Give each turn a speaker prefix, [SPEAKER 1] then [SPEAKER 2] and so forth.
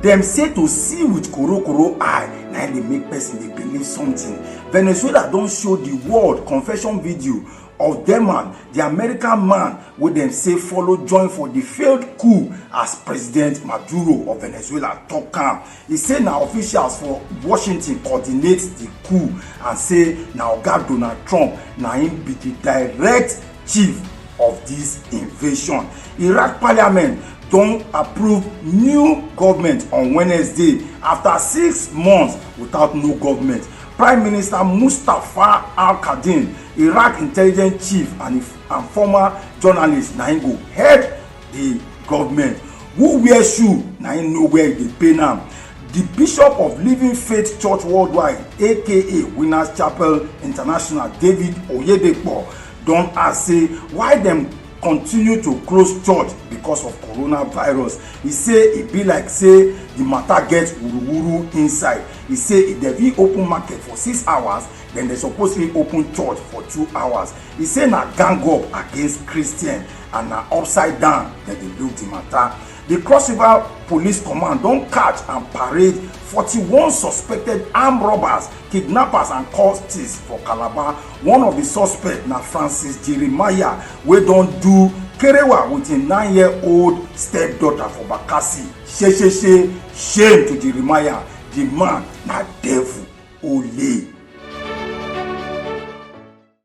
[SPEAKER 1] Dem say to see with korokoro eye na im dey make person dey believe something. Venezuela don show the world confession video of Deman, the American man wey dem say follow join for the failed coup as President Maduro of Venezuela talk am. E say na officials for Washington coordinate di coup and say na oga Donald Trump na im be di direct chief of dis invasion. Iraq parliament don approve new government on Wednesday after six months without no government. Prime Minister Mustafa al-Kadhim, Iraq intelligence chief and former journalist na im go head the government who wear shoe na him know where e dey pain am the bishop of living faith church worldwide aka winners chapel international david oyedepo don ask say why dem continue to close church because of coronavirus e say e be like say the matter get wuruwuru inside e say if dem fit open market for six hours then dem suppose fit open church for two hours e say na gang up against christians and na upside down dem dey look the matter The Cross River Police Command don catch and parade 41 suspected armed robbers, kidnappers and cultists for Calabar. One of the suspects na Francis Jeremiah wey don do kerewa with im nine-year-old stepdaughter for Bakassi. Shesheshe, shame to Jeremiah, the man na devil, ole.